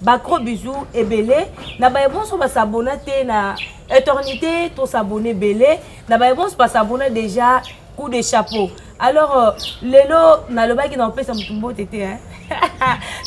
Ba gros bisous ebele na baye bonso ba s'abonner te na eternité to s'abonner ebele na baye bonso ba s'abonner déjà coup de chapeau alors euh, lelo nalobaki na opesa motu mbote te hein?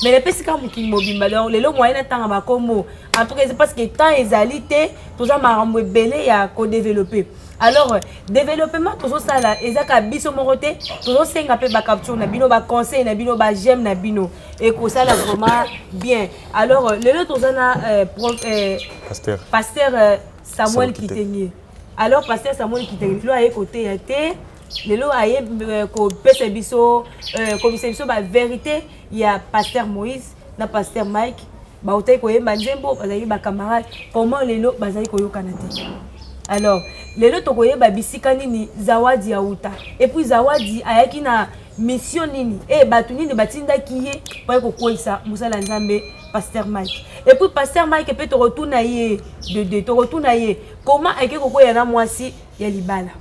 mais napesi kaka mokili mobimba donc lelo moye natanga bakombo en tout cas parce que temps ezali te toza makambo ebele ya kodeveloppe alors euh, développement tozosala ezaka biso moko te tozosenga mpe bacapture na bino baconseil na bino bajeme na bino ekosala vraiment bien alors lelo toza na euh, euh, pasteur, pasteur euh, samuel kitenge alors pasteur samuel kitenge lelo aye koteya te lelo aye kopesa biso komisa biso baverité ya pasteur moïse na pasteur mike bautaki koyemba nzembo bazalaki bacamarade comment lelo bazali koyokana te alors lelo tokoyeba bisika nini zawadi auta epuis zawadi ayaki na misio nini e bato nini batindaki ye mpo ye kokweisa mosala ya nzambe pasteur mike epuis pasteur mike mpe tokotuna ye dede tokotuna ye koma ayeke kokweya na mwasi ya libala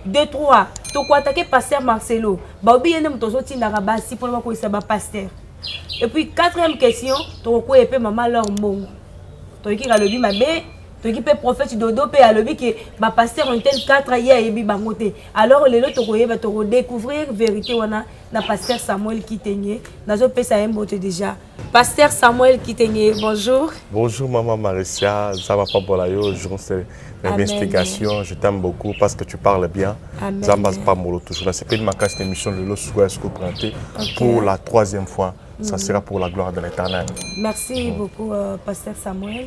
de 3 tokoatake pasteur marcelo baobi ye nde moto ozotindaka basi mpona bakweisa bapasteur epuis quatrième question tokokweya mpe mama lor mbongo toyekika alobi mabe toki mpe prophète dodo mpe alobi ke bapasteur intel 4 ye ayebi bango te alors lelo tokoyeba tokodecouvrir vérité wana na pasteur samuel kitenge nazopesa ye mbote déjà pasteur samuel kitenge bonjour bonjour maman maricia nzambe apambola yo journaliste d'investigation je t'aime beaucoup parce que tu parles bien nzambe apambolo toujours nasepeli makasi na émission lelo sukoya suko prente pour la troisième fois ça mm. sera pour la gloire de l'éternel merci beaucoup euh, pasteur samuel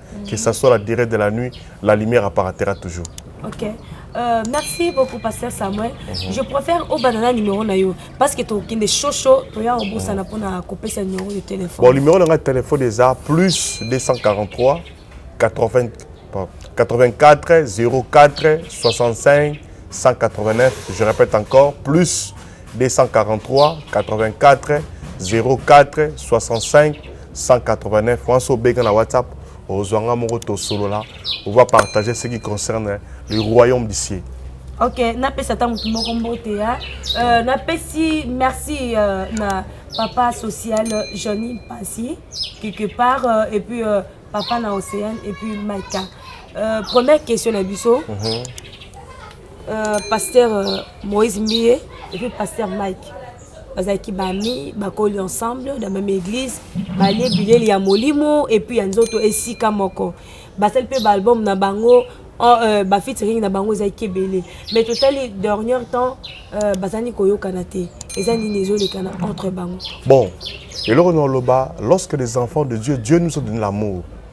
mm. que ça soit la durée de la nuit la lumière apparatera toujours ok Euh, merci beaucoup pasteur samuel mm -hmm. je préfère obandana numéro na yo parce que tokende shosho toya obosana mpona mhm. kopesa numéro de téléphone bon numéro na ngai téléphone eza plus 243 80, 84 04 65 189 je répète encore plus 243 243 84 04 65 189 wana so obenga na whatsapp ozwa nga moko tosolola ova partage ce qui concerne le royaume du ciel ok napesa ata motu moko mbote ya euh, napesi merci euh, na papa social johnny mpasi quelque part euh, et puis euh, papa na océane et puis maika euh, première question na biso mm -hmm. Euh, pasteur euh, Moïse Mie et puis pasteur Mike bazalaki bami bakoli ensemble na meme église balie bileli ya molimo epuis ya nzoto esika moko basali mpe baalbum na bango oh, euh, bafitiring na bango ezalaki ebele mais totali dernier temps euh, bazali koyokana te eza nini ezolekana entre bango bon eloko na oloba lorsque les enfants de dieu dieu nous a donné l'amour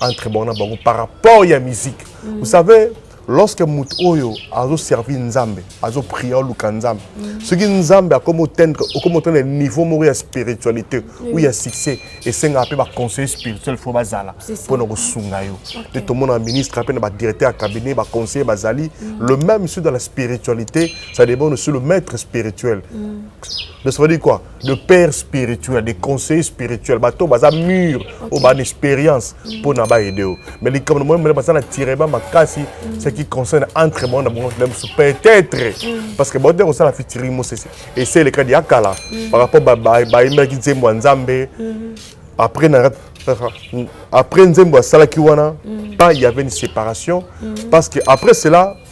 entre bango na bango par rapport ya musique mm. vous savez lorsque moto oyo azoservi nzambe azopriya oluka nzambe mm. soki nzambe akomi otendre okomi otendre niveau moko ya spiritualité ou ya succès esengaka mpe baconseiller spirituel fo bazala mpo na kosunga yo nde tomona ministre mpe na badirecteur ya cabinet baconseiller bazali mm. le même sur dans la spiritualité ça dépend sur le maître spirituel mm. donc ça veut dire quoi de père spirituel de conseiller spirituel bato baza mur oyo bana expérience mpo na baede yo mais likambo na moyemele baza na tirema makasi ce qui concerne entre bango na bango na mosusu peut-être mm. parce que baote kosala fitiri mosese ese elekadi ya kala mm. par rapport bayembelaki nzembo ya nzambe mm. après na après nzembo asalaki wana pas il y avait une séparation parce que après cela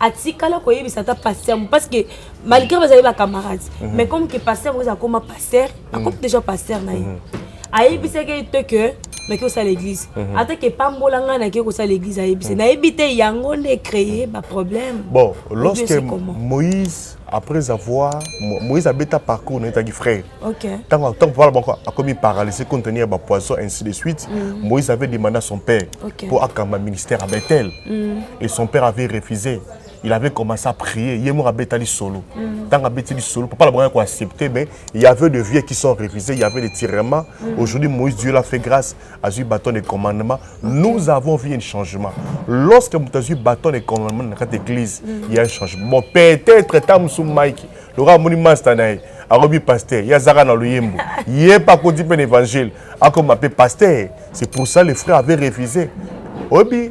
atikala koyebisa ata pasteur parce que malgré bazali ba camarades mhm. mais comme que pasteur oza akoma pasteur mhm. akomi déjà pasteur na ye mhm. ayebisaki ye te que nake kosala église ata ke pambola ngai nake kosala église ayebisa nayebi te yango nde créer baproblème bon lorsque moïse après avoir moïse abeta parcours naye etaki frère ntango ntango papa bango akomi paralyse compte tenu ya bapoison ainsi de suite mm. moïse avait demandé à son père mpo akamba ministère à bethel mm. et son père avait refusé il avait commencé à prier ye moko abetali solo ntango mm. abeti lisolo papa na bango ya koaccepte mais il y avait de vieux qui sont refusés il y avait des tirements aujourd'hui moïse dieu l'a fait grâce azwi bâton de commandement nous avons vu un changement lorsque moto azwi bâton de commandement na kati église mm. il y a un changement bon peut-être ta mosu mike lokola amoni masta na ye akobi paster ye azaka na loyembo ye mpe akoti mpe na évangile akoma mpe paster c'est pour ça le frère avait refusé oyebi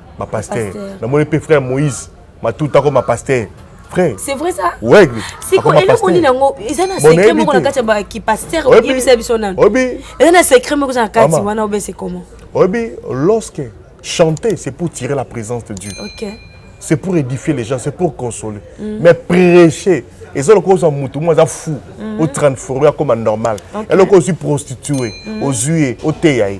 ma pasteur na moni pe frère Moïse matuta ko ma pasteur frère c'est vrai ça ouais siko eloko nini yango eza na secret moko na kati ya ba ki pasteur oyebisa biso nani obi eza na secret moko na kati wana obe c'est comment obi lorsque chanter c'est pour tirer la présence de Dieu OK c'est pour édifier les gens c'est pour consoler mm. mais prêcher eza lokola ozwa motu moko aza fou mm. otransforme akoma normal eloko ozwi prostitue mm. ozwi ye oteya ye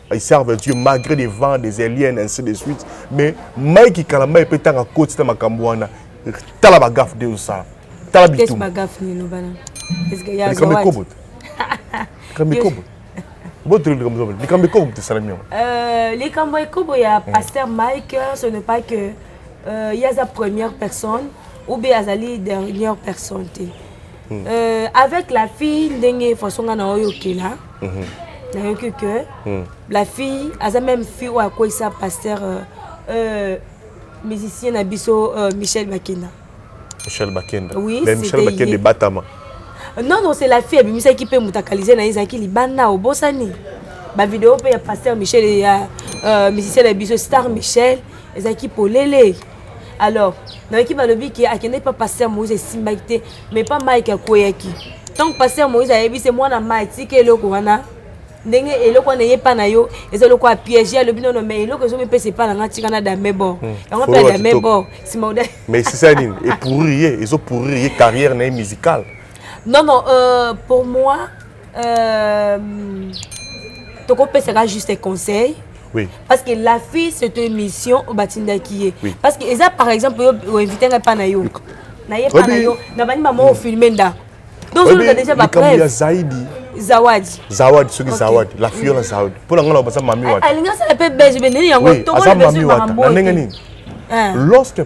ils servent Dieu malgré des vents, des aliens, ainsi de suite. Mais Mike Kalamba peut tanga coach na makambo wana. Tala ba gaffe de ça. Tala bitum. Qu'est-ce ba gaffe ni lobana? Est-ce que ya zawadi? Kamekobot. Kamekobot. Bote likambo zobe. Likambo ekobo te salami yango. Euh likambo ekobo ya pasteur Mike ce n'est pas que euh, il y a sa première personne ou bien azali dernière personne te. mm. euh, avec la fille ndenge façon nga na oyo okela mm -hmm. nayoki que mm. la fille aza même fille oyo akweyisa pasteur euh, euh, musicien na biso euh, michel bakenda michel bakenda oui, mais michel bakenda ebatama euh, non non c'est la fille abimisaki mpe moto akalise na ye ezalaki libanda obosani bavideo mpe ya pasteur michel ya euh, musicien na biso star michel ezalaki polele alors nayoki balobi ke akendeki pa paster moïse esimbaki te mais pa mike akweyaki ntango paster moïse ayebi se mwana mai tika eloko wana ndenge eloko wana eyepa na yo eza eloko ya piège alobi nono mais eloko ezomi mpesa epa na nga tika na dame bor hmm. yango mpe ya dame bor nsima oda mais esisa nini epourrir ye ezopourrir ye carrière na ye musicale non non euh, pour moi Euh, tokopesaka juste conseil oui. parce que la fille cette émission obatindaki ye oui. parce que eza par exemple yo oinvite ngai mpa na yo na ye mpa na yo na bani mama ofilme ndako donc ozoluka déjà bapreuve ya zaidi zawadi zawadi soki okay. zawadi la fille wana zawadi mpo na ngai na baza mami wata alingi asala mpe belge mpe nini yango tokolibesomambo na ndenge nini eh. lorsque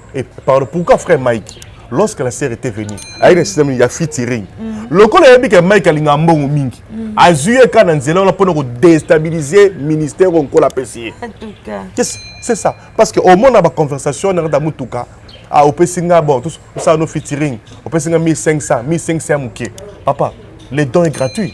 Et pardon, pourquoi frère Mike Lorsque la sœur était venue, avec le système, il y a featuring. lokola ayebi ke mike alingaka mbongo mingi mm. azwi ye kaka na nzela wana mpona kodestabilize ministère oyo nkola apesi ye c'est ça parce que omona baconversation wana kata motuka ah, opesi nga bon osala no featuring opesi nga 1500 1500 ya moke papa le don est gratuit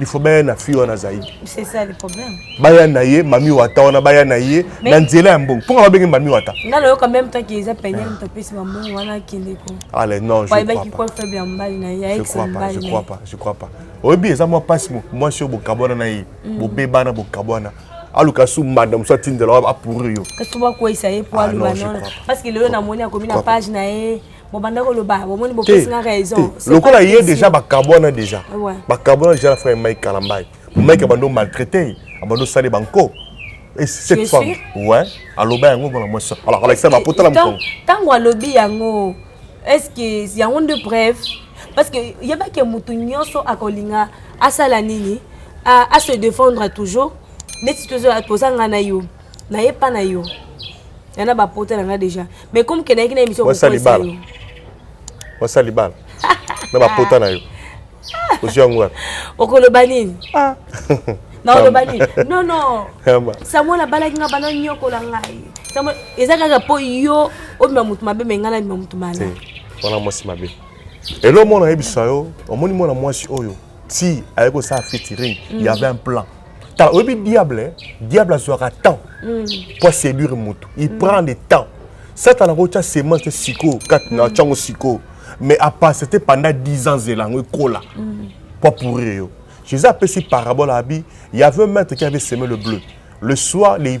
il faut baya na fille wana zaidi c'est ça le problème baya na ye mami wata wana baya na ye na nzela ya mbongo mpo nga babenge mami wata nga nayoka même temps que eza pene moto apesi bambongo wana akende ko ale non je crois pas faible ya mobali na ye je crois pas je crois pas je crois pas oyebi eza mwa mpasi mwasi oyo bokabwana na ye mm. bobebana bokabwana aluka su mbanda mosu atindela apourir yo kasi bakweyisa ye po ah, aluba nono parce que lelo namoni akomi na page na ye bobanda koloba bomoni bopesi nga raison lokola ye déjà bakabwana déjà bakabwana déjà na frère mike kalambai mike abando maltraité abando sale banko Et cette femme, ouais, aloba yango mpona mwasi alors alakisa bapota na mokongo ntango alobi yango est ce que yango nde bref parce que yebaki motu nyonso akolinga asala nini à, à se défendre toujours neti tozala tozanga na yo na ye pa na yo ya na bapota na nga deja mais comme ke nayaki na émission wasa libala wasa libala na bapota na yo ozwi yango wapi okoloba nini ah. naoloba nini non non samuel abalaki nga bana nyokola ngai samuel eza kaka mpo yo obima motu mabe me ngai nabima motu malamu wana mwasi mabe elo omona yebisa yo omoni mwana mwasi oyo ti aye kosala featuring mm. y avait un plan tala oyebi diable eh? diable azwaka temps mm. mpo aséduire motu il mm. prend de temps satana akotya semence te sikoyo kati na tyango sikoyo mais apase te pendant 10 ans zela yango ekola mpo apourire yo jésus apesi parabole abi y avait un maître qui avait semé le bleu le soir les,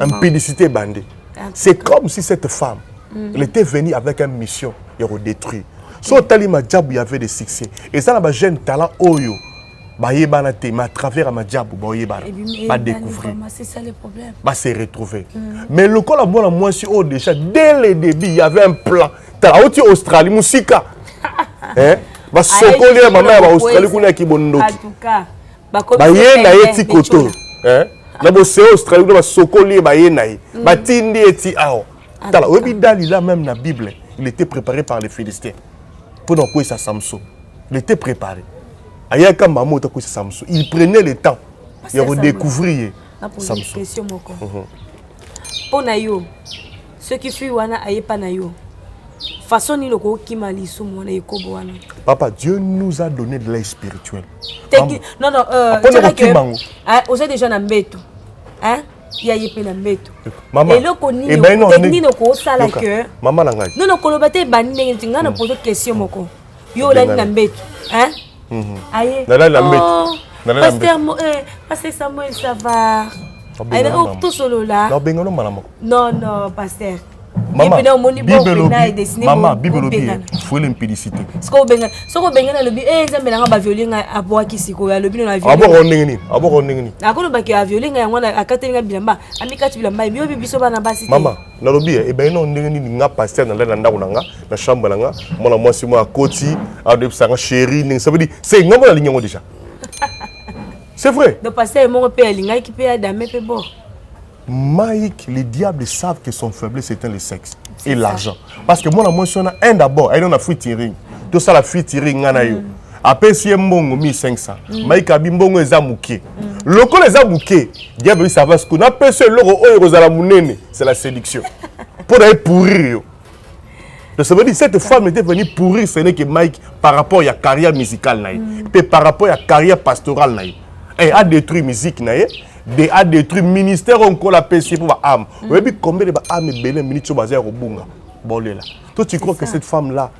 impudicité ebandi c'est comme si cette femme mm. elle était venue avec une mission ya kodétruire so otali majabu ya avait de succès eza na bajeune talent oyo bayebana te mais à travers ya majabu baoyebana badécouvrir base retrouver mm. mais lokola mwana mwasi oyo déjà dès le début y avait un plan tala auti australie mosika basokoli ya mama ya baaustralie kuna ya kibondoki baye na ye ti koto eh? na boseo australie kuna basokoli ye baye na ye mm. batindi ye ti awa ah, tala oyebi dalila meme na bible il était préparé par les philistins mpo na kokweyisa samson il était préparé ayaka mama oyo takweyisa samson il prenait le temps ya kodécouvrir ye samson mpo mhm. na yo Soki fille wana aye pa na yo, façon nini okokima lisumu wana ekobo wana? Papa, Dieu nous a donné de l'aide spirituelle. Teki, non non, euh, Apone tshaka kokima que- yango. hein, oza déjà na mbeto. Hein? Ya ye pe na mbeto. Mama, Eloko nini, ebandi na technique nini okosala Yoka, que Mama na ngai. Non non, koloba te ebandi ndenge nti ngai na pose question moko. Yo olandi na Ebandi. mbeto. Hein? Mhm. aye nalali na mbete oh, nalali na mbete pasteur eh, Samuel ça va aye oh, tosolola na bengano mbala moko non non pasteur mama bible olobi fuele mpidisite soki obengani alobi e nzambe nanga baviole ngai abwaki sikoyo alobi no abwaka ndenge nini abwaka ndenge nini akolobaki aviole ngai yango wana akateli ngai bilamba amikati bilamba yebi obi biso bana basi mama nalobi eh, ebandi nao ndenge nini nga paster nalali na ndako na nga na chambre na nga mwana mwasi moko akoti adoyebisa nga chéri ndenge sabedi se nga mpo nalingi yango déjà c'est vrai donc paster moko mpe alingaki mpe adame mpe bo Mike, les diables savent que son faiblesse éteint le sexe et l'argent. Parce que moi, moi, je suis un d'abord, elle en a free tiring. Tout ça, la free tiring, on a eu. apesi ye mbongo 1500 mm. maikabi mbongo eza moke mm. lokola eza moke diable ça va sikoyo napesi yo eloko oyo ekozala monene c'est la séduction mpo na ye pourrir yo tosaba dit cette femme était venue pourrir ce n'est que mike par rapport ya carrière musicale na ye mm. mpe par rapport ya carrière pastorale na ye e a détruit musique na ye de a détruit ministère oyo nkolo apesi ye mpo baame oyebi combien de baame ebele minute oyo baza ya kobunga bolela to tu crois que cette femme là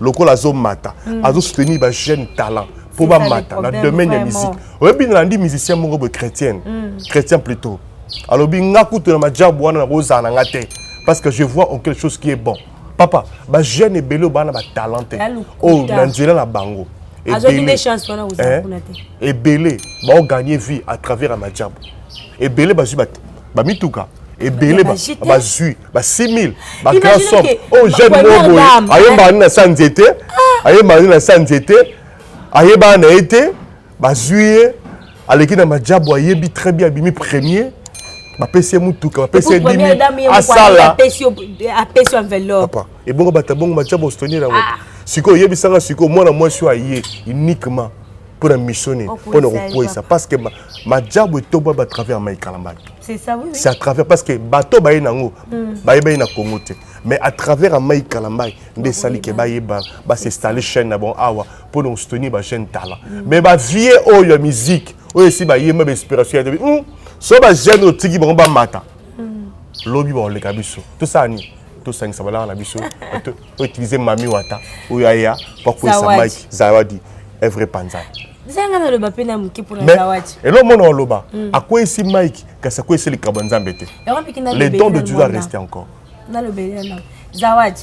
lokola azomata mm. azosoutenir bajeune talent mpo bamata na domaine ya musique oyebi nalandi musicien moko boye chrétienne mm. chrétien plutôt alobi nga kutu na majabu wana nakozala na nga te parce que je vois en quelque chose qui est bon papa bajeune ebele oyo bana batalent te oyo na nzela na bango ebele baoganye vie à travers ya majabu ebele bazwi bamituka ebele bazwi ba 6000 ba grand somme oyo jeune moko boye ayembaka nini na sa nzete ah. ayembaka nini na sa nzete ayebaka na ye te bazwi ye aleki na majabu ayebi très bien abimi premier bapesi ye motuka bapesi ye dimi asala papa ebongo bato abongo majabu ostonela yango ah. sikoyo oyebisanga sikoyo mwana mwasi oyo aye uniquement mpo na mission nini mpo na kokweyisa parce que majabu etombwami à travers mai kalambala c'est à travers parce que bato baye nango hmm. bayebani na congo te mais à travers amai kalambai nde esali ke bayeba basinstalle chaîne na bango awa mpo na kosoutenir bajeune talent hmm. mais bavie oyo ya musique oyo esi bayemba bainspiration ya hmm, so bajeune otiki bango bamata lobi bakoleka biso tosala nini tosangisa balaka na biso o utiliser mami wata oyo aya po akwesa mike zawadi evre panza zanga naloba mpe na moke mpona zawadi elo mona oloba hmm. akwesi mike kasi akwesi likambo ya nzambe te le don de dieu a reste encore nalobelela nao zawadi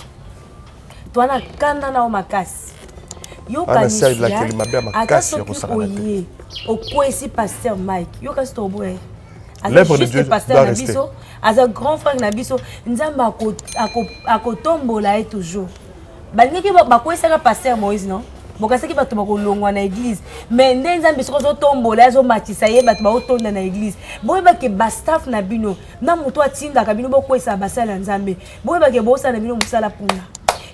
twana kanda nao makasi yokanisiata soki oye okwesi paster mike yo kasi toboya l'œuvre de Dieu doit rester aza grand frère na biso nzambe akotombola ye toujours balingaki bakwesaka pasteur moïse non bokasaki bato bakolongwa na eglize mais nde nzambe soki azotombola ye azomatisa ye bato baotonda na eglize boyebake bastaff na bino na moto atindaka bino bokwesaka basali ya nzambe boyebake bosala na bino mosala mpuna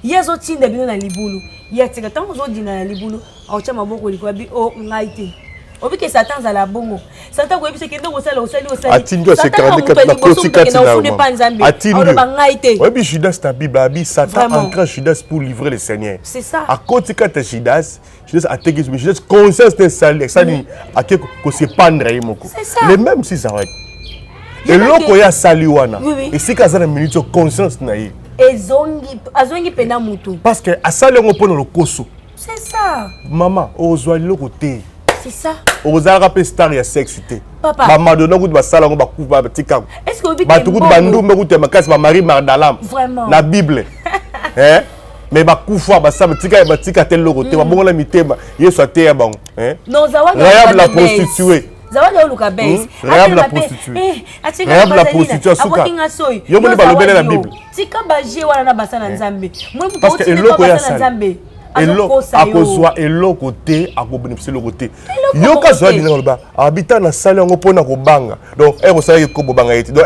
ye azotinda bino na libulu ye atika ntango ozodinda na libulu aotya maboko likolo abi o oh, ngai te obike satan azala bongo satan koyebisa kende kosala osali osaliatindi asekalande kati na koti kati na ofuni epa nzambe aloba ngai te oyebi judas na bible abi satan entra judas pour livrer le seigneur c'est ça akoti kati ya judas judas ateki mais judas conscience te esali esali mm. ake kosepandre ye moko le même si zawadi eloko ye asali wana esika aza na minute conscience na ye ezongi azongi mpena motu parce que asali yango mpo na lokoso C'est ça. Maman, ozwa loko te. C'est ça. Ozalaka pe star ya sexe te. Papa. Ba Madonna kutu ba sala ngo ba kuba ba tika. Est-ce que obi Ba tukutu ba ndumba kutu ya makasi ba Marie Magdalene. Vraiment. Na Bible. eh? mais bakufa basala tika batika te loko te mm. babongola mitema yesu ateya bango eh? rayab la prostitue zawadi oluka bes hmm? rayab la prostitue eh, rayab la prostitue asuka yo moni balobele na bible tika baje wana na basa na eh. nzambe moi moto otineka basa na nzambe akozwa eloko te akobonifisa eloko te yoka zwa bina koloba abita na sali yango mpo na kobanga donc e eh, kosalaki eh, ko bobanga ye te donc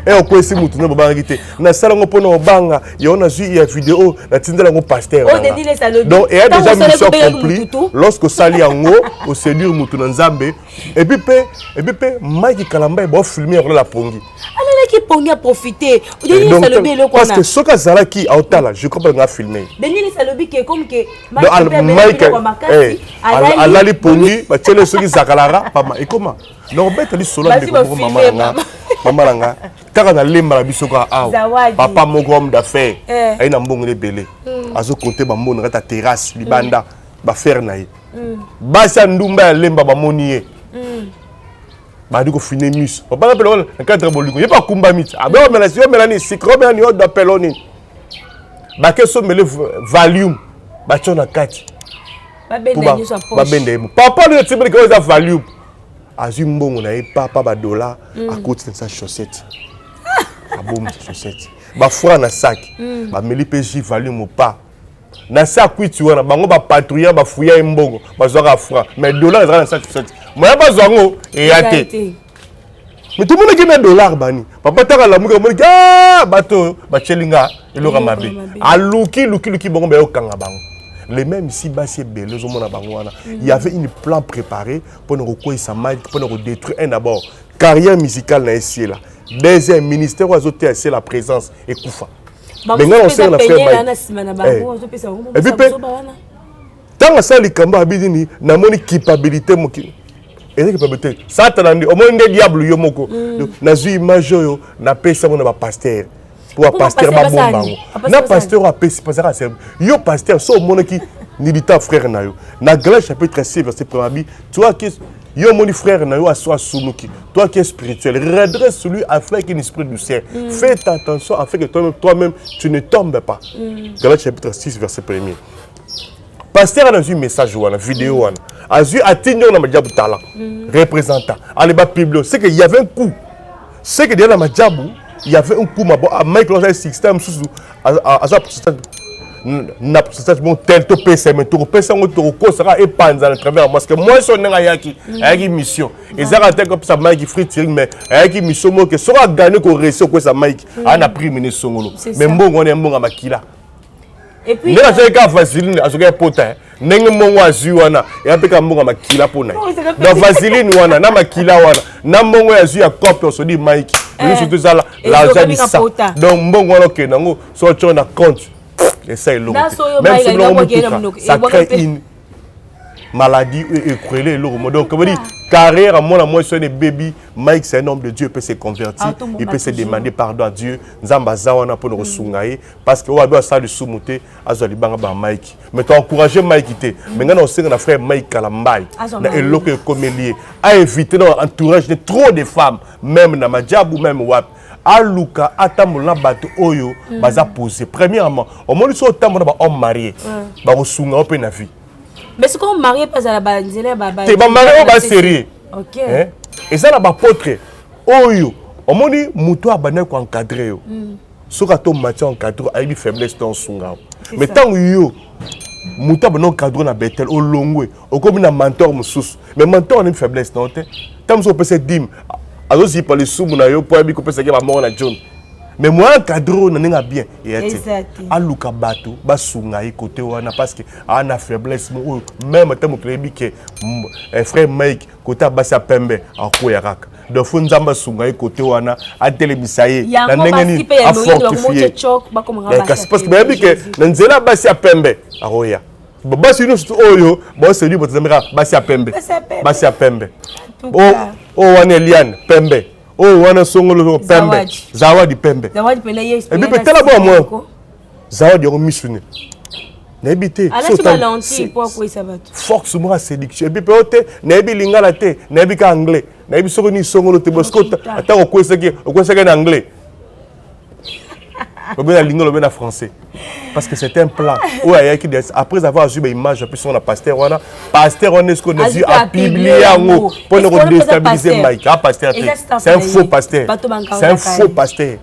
e okwesi motu no bobangaki te nasala yango mpo na kobanga yango nazwi ya video natindela yango paster donc eya déjà mission accompli lorsque osali yango oseduire motu na nzambe epuis mpe epuis mpe mike kalamba ye baofilme yango na la pongi alalaki pongi a profite denise alobi eloko wana parce que soki azalaki aotala je crois pas nga filme denise alobi ke comme ke mike eh, alali pongi batiele soki zakalara pama ekoma donc beta lisolo ndeko mama nga mama na nga kaka nalemba na biso kaka awa papa moko homme d'affaire eh. aye na mbongo ebele hmm. azokonte bambongo na kati ya terrasse libanda hmm. bafere na ye hmm. basi ya ndumba ya lemba bamoni ye badi kofine miso obanga mpe lokola na cadre bolingo ye mpe akumbami ti abe omela si omela nini sikre omela ni odo apelo nini bake somele valium batyo na kati babenda ye mo papa nini otibeleke oyo eza valium azwi mbongo na ye papa badola mm. akoti na sa chaussette abomisa chaussette bafra na saki mm. bameli mpe ji valium opa na sa kwiti wana bango bapatrouilla bafouya ye mbongo bazwaka franc mais dollar ezalaka na sa tusati moya bazwa yango eya te mais tomonaki na dollar bani papa taka lamuki amoniki ah, bato oyo batyeli nga eloko mabe aluki luki luki bango bayokanga bango les mêmes ici basi ebele ozomona bango wana mm. il y avait une plan préparé mpo na kokweisa mike mpo na kodétruire un d'abord carrière musicale na ye siela deuxième ministère oyo azoteya siela présence ekufa bengana osenga na frère baye epuis mpe ntango asala likambo abi nini namoni culpabilité mokili eza culpabilité satana nde omoni nde diable yo moko mm. nazwi image oyo napesi yango na bapastere mpo bapastere babomba yango na pasteur oyo apesi pasaka servi yo pasteur so omonaki milita frère na yo na galate chapitre 6 verset 1 abi toaki yo omoni frère na yo aso asunuki toi qui est spirituel redresse celui afin qu'une esprit du ciel mm. faites attention afin que toi-même toi-même tu ne tombes pas mm. Galates chapitre 6 verset 1er pasteur ana azwi message wana video mm. wana azwi atindi yango na majabu tala mm. représentant aleba publio c'est que y avait un coup c'est que deya na majabu y avait un coup mabo ah, mike loza sixta mosusu aza pourcentage na pourcentage moko tel topesa me tokopesa yango tokokosaka epanza na travers parce que mwasi oyo ndenge ayaki mm. ayaki mission mm. ezaka te kopesa mike free tiring mais ayaki mission moko ke soki agane koresi okwesa mike mm. aa na prix mine esongolo mais mbongo wana ya mbongo ya makila nde nazalaki ka vaseline azokaki pota ndenge mbongo azwi wana ya mpe ka mbongo ya makila mpo na ye na vaseline wana na makila wana na mbongo ya zwi ya cope osodi mike misu eh, tozala laza bisa donc mbongo wana okende yango so otyo na compte esa eloko te même soki biloko motuka ça crée une maladie oyo ekwele eloko mo donc bodi carrière ya mwana mwasi wana ebebi mike c'est un homme de dieu peut se convertir ah, il peut se demander pardon à dieu nzambe aza wana mpo na kosunga ye parce que oyo ado asala lisumu te azwa libanga ba mike mais to encourage mike te mais ngai na osenga na frère mike kalambai na eloko ekomeli ye a éviter na entourage de trop de femmes même na majabu même wapi aluka atambola na bato oyo mm. baza pose premièrement omoni soki otambola na bahomme marie mm. bakosunga yo mpe na vie mais soki omarie mpe azala banzela ya babate bamarie oyo basérieux eza na bapotre oyo omoni moto abandaki koencadre yo mm. soki ata omati encadre ayebi faiblesse na osunga mais ntango yo moto abanda encadre na betel olongwe okomi na mentor mosusu mais mentor anayebi faiblesse na yo te ntango mosusu opesa dime azozipa lisumu na yo mpo ayebi kopesaki bamoko na john mais moya encadre oyo na ndenge ya bien eya te aluka bato basunga ye kote wana parce que aa na faiblesse moko oyo meme ata moto ayebi ke eh, frère mike kote abasi ya pembe akoya kaka donc fo nzambe asunga ye kote wana atelemisa ye na ndenge nini afortifie kasi parce que bayebi ke na nzela ya basi ya pembe akoya basi nyonso oyo baoseli botazameka basi ya pembe basi ya pembe oyo oh, oh, wana eliane pembe oyo oh, wana songolo pembe zawadi pembe ebipe tala bwa mwa zawadi yango misu ne nayebi te force moko ya séduction epi mpe o te nayebi lingala te nayebi ka anglais nayebi soko nini songolo te bosko ata okwesaki okwesaki na anglais lobe na lingala lobe na français parce que c'est un plan oyo ayaki après avoir azwi baimage ya biso na pasteur wana pasteur wana esko nazwi apiblie yango mpo na kodestabilise mike a pasteur te c'est un faux pasteur c'est un faux pasteur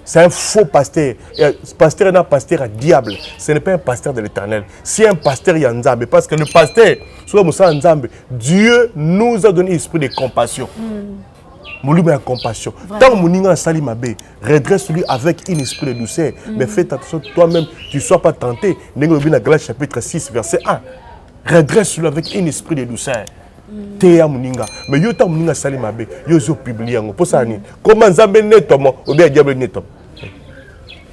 c'est un faux pasteur Euh, pasteur na pasteur ya diable ce n'est pas un pasteur de l'éternel c'est un pasteur ya nzambe parce que le pasteur soki mosala nzambe dieu nous a donné esprit de compassion mm. molimo ya compassion ntango moninga asali mabe redresse lui avec une esprit de douceur mm. mais fait attention toi-même tu sois pas tenté ndenge olobi na galatie chapitre 6 verset 1 redresse lui avec une esprit de douceur mm. teya moninga mais yo ntango moninga asali mabe yo ozo publie yango mpo sala nini koma nzambe netoma obe ya diable netoma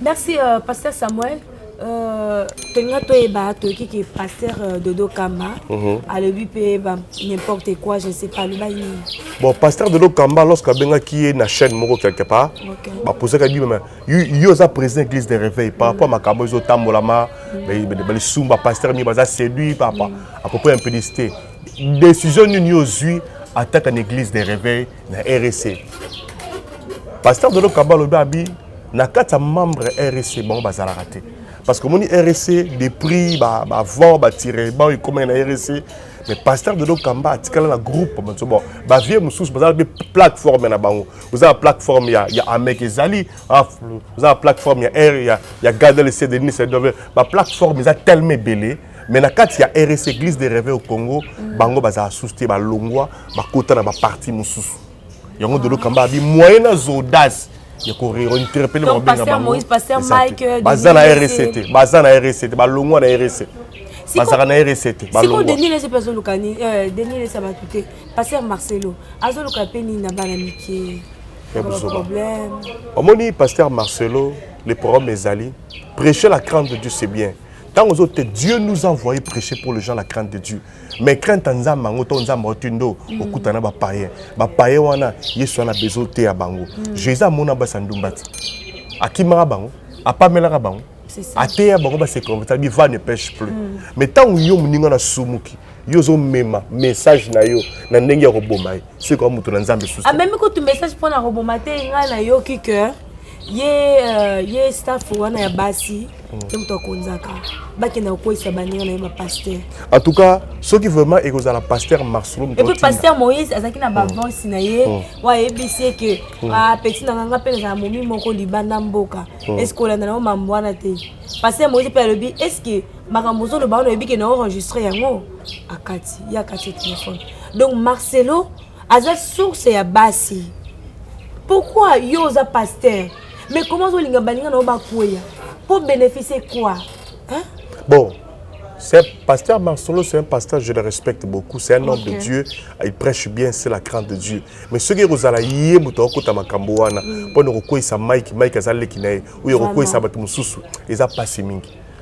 Merci euh, pasteur Samuel. Euh, tolinga toyeba toyoki ke pasteur euh, dodo kamba uh mhm. -huh. alobi mpe ba n'importe quoi je ne sais pas aloba nini bon pasteur dodo kamba lorsque abengaki ye na chaîne moko quelque part okay. bapozaka bi meme yo oza président église de réveil par rapport mm. makambo ezotambolama mm. balisumu bapasteur mingi baza séduit papa mm. à peu près impudicité décision nini yo ozwi ataka na église de réveil na RSC pasteur Dolo Kaba alobi abi na kati ya membre RSC bango bazalaka te parce que omoni RSC des prix ba ba vent ba tire ba ekoma na RSC mais pasteur Dolo Kamba atikala na groupe banso bon ba vieux mususu bazala be plateforme na bango oza plateforme ya ya Amek ezali oza plateforme ya R ya ya Gadel Cedric Nice ba plateforme eza tellement belé mais na kati ya rs église de réveil au congo mm. bango bazala susu te balongwa bakota na baparti mosusu yango dolo kamba abi moyen na zodas ya kointerpele babenga bangobaza na rs te baza na rs te balongwa na rs bazalaka na rs te sikoyo denis lese mpe azoluka euh, denis lese ya bato te paster marcelo azoluka mpe nini na bana mike omoni paster marcelo le programme ezali prêcher la crainte de dieu c'est bien ntango ozo te dieu nous a envoyé prêcher pour les gens la crainte de dieu mais crainte ya nzambe yango to nzambe oti ndo mm. okutana bapayen bapayen wana yesu wana besoin oteya bango mm. jésus amona basi ya ndumba ti akimaka bango apamelaka bango ateya bango basekonveta biva ne pêche plus mm. mais ntango yo moninga na sumuki yo ozomema message na yo na ndenge ya koboma ye soki kaka moto na nzambe susu amemi kutu message mpo na koboma te ngai nayoki ke ye uh, ye staff wana ya basi hmm. nde moto akonzaka bakenda kokweyisa baninga na ye bapaster en tout cas soki vraiment ekozala paster marcelo epuis paster moïse azalaki na bavance hmm. na ye hmm. oyo ayebisi ye ke ah, peti na nganga mpe nazala momi moko libanda mboka eske olanda na yo mambo wana te paster moïse mpe alobi eske makambo ozoloba wana oyebi ke na oenregistre yango akati ye akati telefone donc marcelo aza source ya basi pourquoi yo oza pasteur mais comment ozolinga baninga na yo bakweya po bénéficie quoi hein? bon C'est pasteur Marcelo, c'est un pasteur, je le respecte beaucoup. C'est un homme de Dieu. Il prêche bien, c'est la crainte de Dieu. Mais ce qui est aux alaïe, mouton, kota makamboana, pour nous recueillir sa Mike, Mike azalé kinae, ou recueillir sa batumoussou, ils a pas si mingi.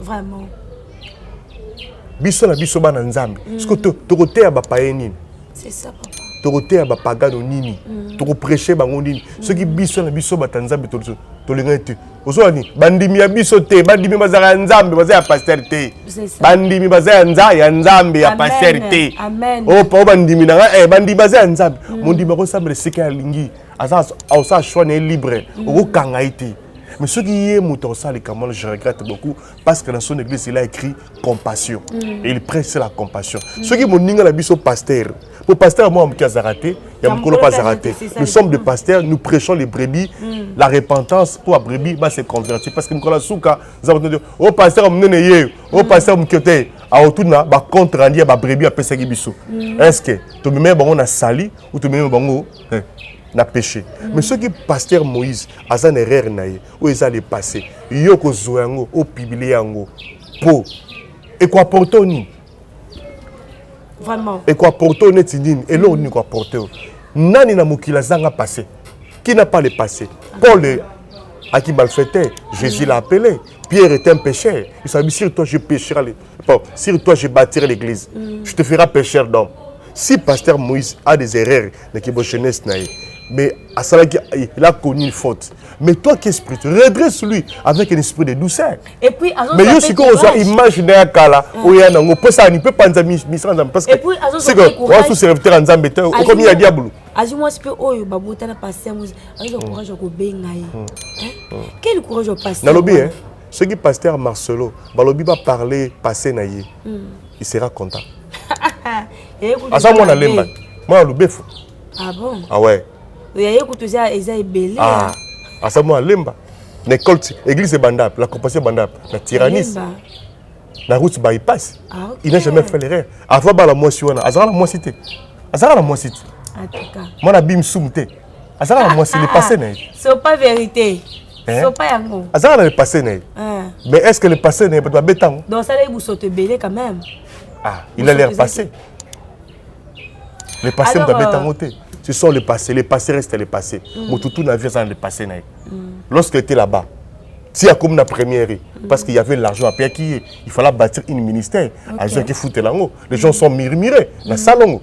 vraiment biso na biso bana nzambe mm. siko tokoteya bapaye nini tokoteya bapagano nini mm. tokopreche bango nini mm. soki biso na biso bata nzambe tolingani te ozowa nini bandimi ya biso te bandimi bazala ya nzambe baza ya paster te bandimi baza ya nza ya nzambe ya paster te opa o bandimi na ngai eh, bandimi baza ya nzambe mondimi akosambela esika alingi aza aosa choix na ye libre okokanga ye te mais soki ye moto akosala likambo wana je regrette beaucoup parce que dans son église il a écrit compassion mm. et il prêche la compassion mm. soki moninga na biso pasteur po pasteur moko moke azala te ya mokolo mpe azala te nous sommes des pasteurs nous prêchons les brebis mm. la repentance mpo babrebis ba se convertir parce que mokolo ya suka nzambe o oh, pasteur monene ye o oh, mm. pasteur moke te aotuna bacompte rendu ya babrebis apesaki biso mm. est ce que tomemei bango na sali ou tomemei bango eh, na péché mm. mais soki pasteur moïse aza na erreur na ye oyo eza le passé yo okozwa yango opiblie yango mpo ekoaporte o nini vraiment ekoaporte o neti nini eloko nini ekoaporte o nani na mokili azanga passé qui n'a pas le passé paul à qui malfaitait jésus l'a appelé pierre est un pécheur il s'habille sur toi je péchera les Oh, sur toi, je bâtirai l'église. Mm. Je te ferai pécheur d'homme. Si pasteur Moïse a des erreurs, mais qui jeunesse naïe, mais à ça, il a connu une faute. Mais toi qui es spirituel, redresse lui avec un esprit de douceur. Et puis, mais yo si qu'on soit imaginer à Kala, mm. ou ya nango, pour ça, il peut pas nous amener parce que c'est que, on a tous serviteurs en Zambie, comme il y a diable. azwi mwasi mpe oyo babotana pasi yango azwa courage ya kobenga ye quel courage ya pasi nalobi soki pasteur marcelo balobi ba parler passé na ye mm. il sera content aza mwana lemba mwana lubefu ah bon ah ouais oyaye kutu eza eza ebele ah aza mwana lemba na école église ebanda la compassion ebanda na tyrannis na route bypass ah, okay. il n'a jamais fait l'erreur avant bala mwasi wana azalaka na mwasi te azalaka na mwasi te mwana bimsumu te azalaka na mwasi le passé na ye c'est pas vérité Eh? sopa yango azalaka na lepasse na ye eh. mais est ce que lepasse na ye bato babe ntango donc osalaki bosoto ebele quand même ah il a l'air passé lepasse moto abe ntango te ce sont le passé le passé reste le passé mm. moto tout na vie aza na lepasse na ye mm. lorsque était là-bas ti akomi na première ye mm. parce qu'il y avait l'argent apiyaki ye il fallait bâtir une ministère azwaki futela yango les gens sont mirmire na salongo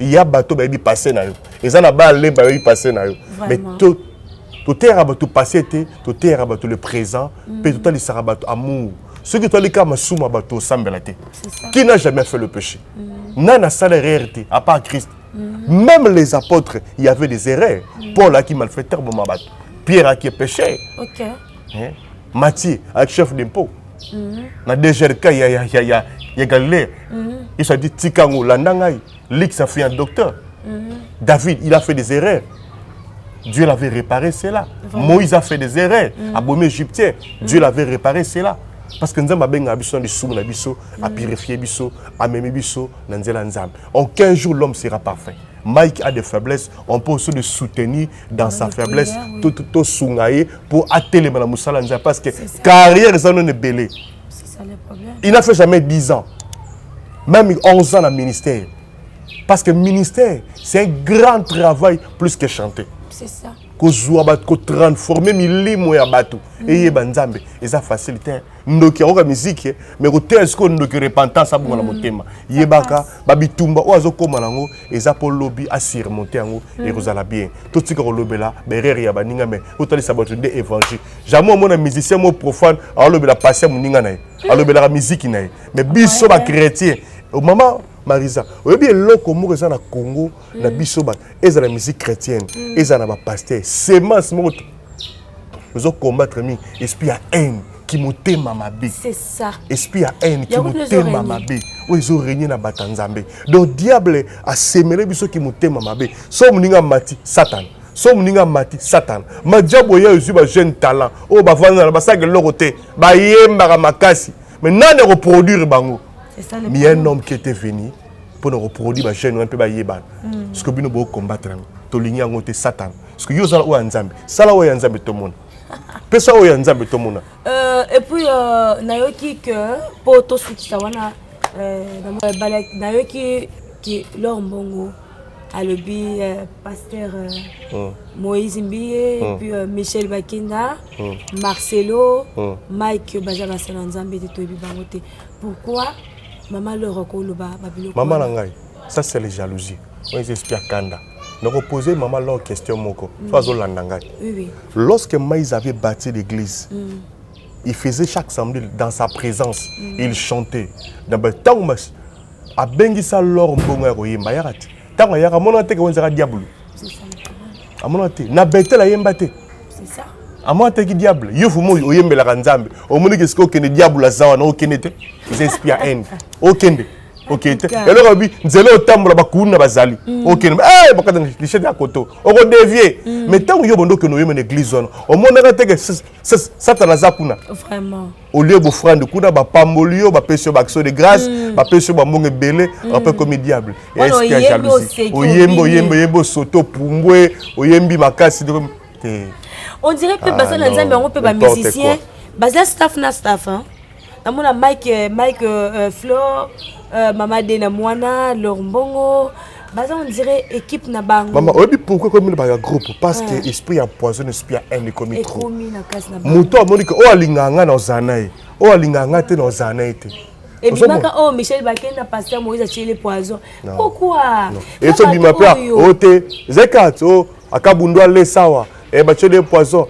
ya bato bayebi passe na yo eza na ba lemba bayebi passe na yo mais toteyaka bato passe te toteyaka bato le présent mpe mm. totalisaka bato amour soki otali kaka masumu ya bato osambela te qui n'a jamais fait le péché mm. nani asala erreur te à part christ mm. même les apôtres il y avait des erreurs paul aki malfaiteur boma bato pierre aki péché eh? mati avec chef d'impôt mhm. na dgrk ya, ya, ya, ya, ya galilée mhm. yesu adi tika yango landa ngai lix afui un docteur mhm. david il a fait des erreurs Dieu l'avait réparé cela. Vraiment. Moïse a fait des erreurs, mm. abomi égyptien. Mm. Dieu l'avait réparé cela. Parce que Nzamba benga biso na lisumu na biso, mm. a purifier biso, a meme biso na nzela Nzamba. En 15 jours l'homme sera parfait. Mike a des faiblesses, on peut aussi le soutenir dans sa faiblesse tosunga ye mpo atelema na mosala nzambe parce que carrière eza nono ebele il n'a fait jamais 10 ans même 11 ans na ministère parce que ministère c'est un grand travail plus que chanter c'est ça kozwa bato kotransforme milimo ya bato mm. eyeba nzambe eza facile te ndoki akoka miziki mais koteya sikoyo ndoki repentance abonga na mm. motema yebaka babitumba oyo azokóma nango eza mpo lobi asurmonte yango mm. ekozala bien totika kolobela baerreur ya baninga mai totalisa bato nde évangile jamais omona musicien mo profane alobela pasi ya moninga na ye mm. alobelaka miziki na ye mais biso bachrétien oh, mama marisa oyebi eloko moko eza na congo na biso bato ezala musique chrétienne ezala na bapaster semence moko ozo combattre mingi esprit ya haine kimotema mabe esprit ya haine kimotema mabe oyo ezo regne na bato ya nzambe donc diable asemele biso kimotema mabe so moninga mati satana so moninga mati satana majabu oyo ezwi bajeune talent oyo bavandana basaka eloko te bayembaka makasi mais nani akoproduire bango mi un homme qui était venu mpo na koproduire bajeune wana mpe bayebana mm. soki bino bocombattre yango tolingi yango te satana parce que yo ozala oyo ya nzambe sala oyo ya nzambe tomona pesa oyo ya nzambe tomona euh, et puis euh, nayoki que mpo tosukisa wana euh, nayoki ke lor mbongo alobi euh, pasteur euh, oh. moïse mbiye oh. puis euh, michel bakenda oh. marcelo oh. mike baza basala nzambe te toyebi bango te pourquoi mama lor akoloba babiloko mama na ngai ça c'est les jalousie oyo eza esprit ya kanda nako poser mama long question moko mm. so azolanda ngai oui, oui. lorsque mais avait bâti l'église mm. il faisait chaque samedi dans sa présence mm. il chantait dans ba tango mas abengisa lor mbongo ya koyemba yaka te ntango ayaka amonaka te kewenza ka diabulu amonaka te na betel ayemba te amona teki diable yo fuma oyo oyembelaka nzambe omoni ke sika okende diable aza wana okende te eza esprit ya haine okende okei te eloko alobi nzela otambola bakuni na bazali mm. okende eh, bakata lichete ya koto okodevie mm. mais ntango yo bondo okende oyeme na église wana omonaka teke satana aza kuna olie bofrande kuna bapamboli yo bapesi yo baaction de grâce mm. bapesi yo bambongo ebele ape komi diable eske ya jalousie oyembi oyembi oyembi osoto pumbwe oyembi makasi te on dirait mpe ah, basala nzambe yango mpe bamusicien baza staff na staff namona mike euh, mike euh, euh, flor euh, mama de na mwana lor mbongo baza on dirait équipe na bango mama oyebi pourquoi ekomi na baya groupe parce que ah. esprit ya poison esprit ya haine ekomi trop moto amoni ke oyo alingaka ngai na ozala na ye oyo alingaka ngai te na ozala na ye te ebimaka oyo oh, michel bakenda pasteur moïse atyeli poison pourquoi esobima mpe oyo te zekat o akabundu alesawa Eh, batye de poison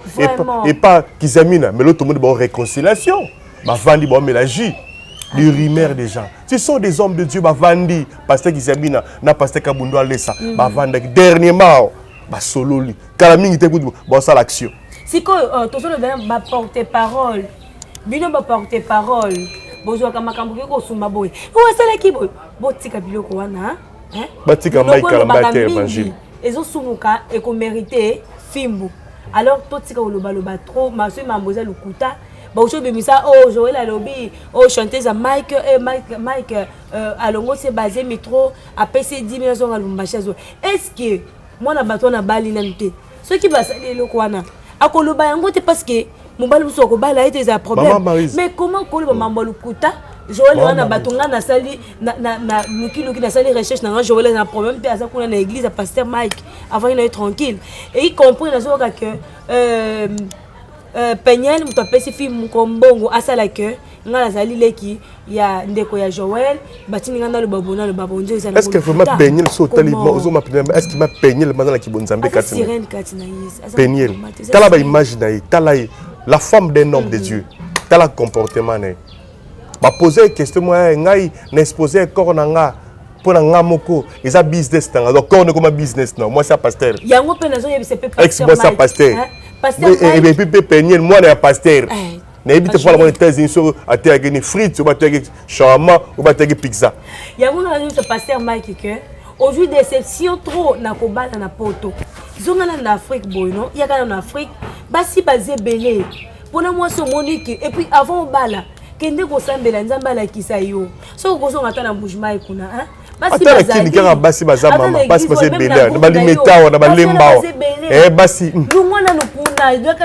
epa kizamina melo tomoni bao réconciliation bavandi baomela jus ah, du rumeur des gens ce sont des hommes de dieu bavandi pasteur kizamina na pasteur kabundo alesa mhm. bavandaki dernièrement basololi kala mingi te kutu baosala action sikoyo euh, tozolobela baporte parole bino baporte parole bozwaka makambo ke kosumba boye oyo asalaki boye botika biloko wana batika mike kalambaya te evangile ezosumuka ekomerite fimbu alors totika kolobaloba trop masoi mambo eza lokuta bauti obimisa o oh, joel alobi o oh, chanteuse ya mike e mike mike euh, alongosi ebazemi trop apesi 10 mil azonga lumbashi azwa est ce que mwana bato wana abali nanu te soki basali eloko wana akoloba yango te parce que mobali mosusu akobala ye te ezala problème mais comment koloba mambo ya lokuta joel wana bato ngai nasali lukiluki nasali recherche na ngai joel aza na problème te aza kuna na église ya pasteur mike avandi na ye tranquille eki compris nazoyoka que euh, euh, peniel moto apesi fi mokombongo asala que nga nazali leki ya ndeko ya joel batindi nga naloba bo naloba bo nzo ezali est ce que vraiment peniel so otali ozo ma peniel est ce que ma peniel maza na kibonza mbe kati sirène kati na yesu peniel tala ba image na ye tala ye la femme d'un homme de mm. dieu tala comportement na ye ba poser question moi eh, ngai na exposer corps na nga mpo na nga moko eza business na nga donc corps ekoma business na mwasi ya pasteur yango mpe nazoyebisa mpe ex mwasi ya pasteur ebepi mpe peniel mwana ya pasteur eh, nayebi te mpo na mwana etats-unis soki ateyaki ni frite oyo bateyaki sharama oyo bateyaki pizza yango nanga nyonso paster mike ke ozwi déception trop na kobala na poto zonga nano na afrique boye no yaka nano na afrique basi baza ebele mpona mwasi omoni ke epuis avant obala kende kosambela nzambe alakisa yo soki okozonga ata na bougemai kuna ata na kini kaka basi baza mama basi baza ebele na balimetawa na balembawa eh, basi hmm.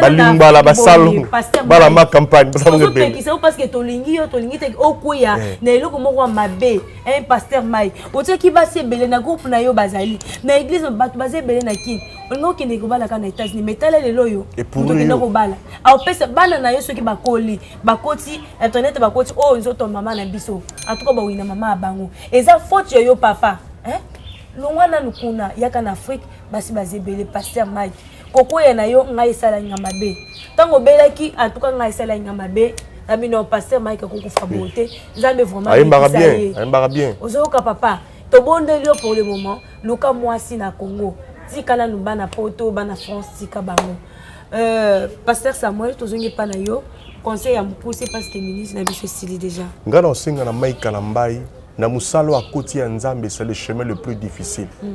balingala basalongo bala ma campagne basalongo ebele parceke tolingi yo tolingi te okweya eh. na eloko moko ya mabe eh, paster mai otyaki basi ebele na groupe na yo bazali na eglise bato baza ebele na kini olingi okende kobalaka na états-unis mais tala lelo oyo okende kobala aopesa bana na yo soki bakoli bakoti internet bakoti oyo oh, nzoto mama na biso antuka bawina mama ya bango eza faute ya yo papa eh? longwa nanu kuna yaka na afrike basi baza ebele paster mike kokwea na yo ngai esalaki nga mabe ntango obelaki antuka ngai esalaki nga mabe na bino paster mike akokufa boye te nzambe vraimentayembaka bien ozoyoka papa tobondeli yo pour le moment luka mwasi na congo tika nanu bana poto bana france tika bango Euh, pasteur samuel tozongi epa na yo conseil ya mokuse parce que ministre na biso esili déjà ngai na osenga na mai kalambai na mosala oyo akoti ya nzambe c'est le chemin le plus difficile mm.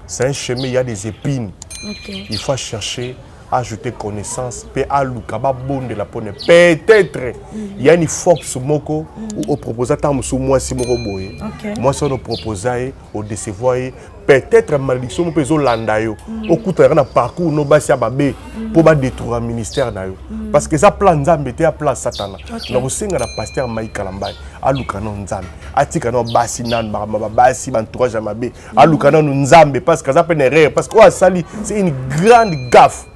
c'est un chemin il y a des épines okay. il faut chercher ajouter connaissance mpe aluka babondela mpo ne peut-être mm. ya ni fox moko mm. oproposa ntango mosusu mwasi moko boye mwasi wana oproposa ye o decevoir ye peut-être malédiction moko ezo landa yo mm. okutanaka na parcours no basi ya babe mm. mpo badétruira ministère na yo mm. parce que eza plan nzambe te ya plan satana na kosenga na pasteur mai kalambai aluka nano nzambe atika nano basi nano makambo babasi bantourage ya mabe aluka nano nzambe parce que aza mpe na erreur parce que oyo asali c'est une grande gaffe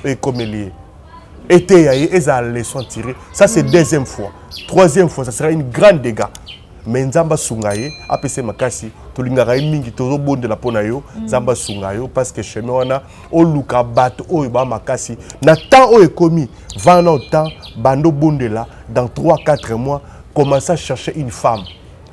ekomeli ye eteya ye ezala leçon tiré ça c'est deuxième fois troisième fois ça sera une grande dégâts me nzambe asunga ye apesa ye makasi tolingaka ye mingi tozobondela mpo na yo mm. nzambe asunga yo parce que chemin wana oluka bato oyo baa makasi na temps oyo ekomi vana au temps bando obondela dans 3 4 mois commence à chercher une femme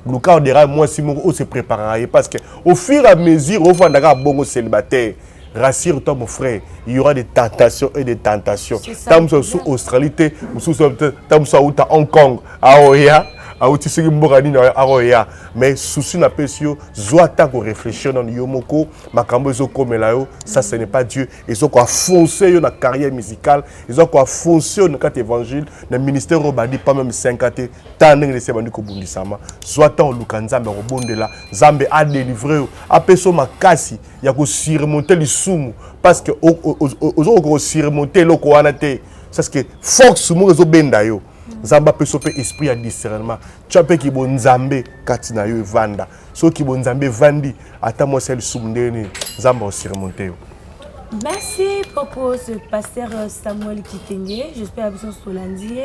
luka odera mwasi moko ose préparaka ye parce que au fur et à mesure ofandaka bongo célibataire rassure toi mon frère il y aura des tentations et des tentations ntango mosusu asusu australie te mosusu ntango mosusu awuta hong kong aoya ah, awuti soki mboka nini aoya ah, mais susi napesi yo zwa ata koreflechir nano yo moko makambo ezokomela yo ça ce n'est pas dieu ezo koafonse yo na carrière musicale ezo koafonse yo na kati évangile na ministère oyo obandi pas même 5 ans te ntango ndenge lesi ebandi kobundisama zwa ntango oluka nzambe akobondela nzambe adelivre yo apesa yo makasi ya ko surmonter lisumu parce que ozo ko ko surmonter eloko wana te parce que force moko ezo benda yo nzambe apesa mpe esprit ya discernement tya mpe kibonzambe kati na yo evanda soki kibonzambe evandi ata mwasi ya lisumu ndenge nini nzambe aosurmonte yo Merci Popo, ce pasteur euh, Samuel Kitenge. J'espère que vous lundi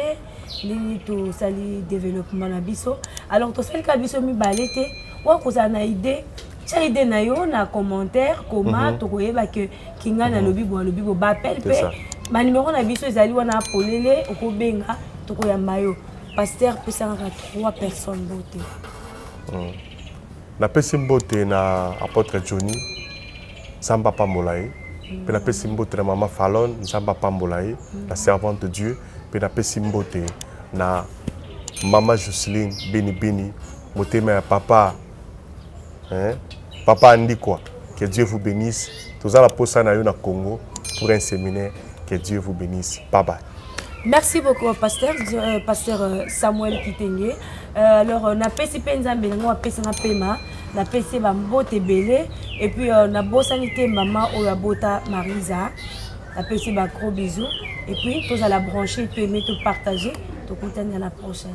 nini to sali développement na biso. Alors to sali ka biso mi balete wa ko na idée tia ide na yo na commentaire koma mm -hmm. tokoyeba ke kingani mhm. alobi mm -hmm. bo alobi bo bapele mpe banimero na biso ezali wana polele okobenga tokoyamba yo paster pesangaka trois personnes bote mm. napesi mbote na apotre johnny nzambe apambola ye mm. mpe napesi mbote na mama falon nzambe apambola ye mm. na servante de dieu mpe napesi mbote na mama joceline benibeni motema ya papa hein? papa andikwa que dieu vous benisse toza na posa na yo na congo pour un séminaire que dieu vous benisse bye bye merci beaucoup euh, pasteur euh, pasteur euh, samuel kitenge euh, alors euh, napesi mpe nzambe nango apesa na pema napesi ye bambote ebele epuis euh, nabosani te mama oyo abota marisa napesi bagros bisous epuis tozala branche peme topartage tokutani na la prochaine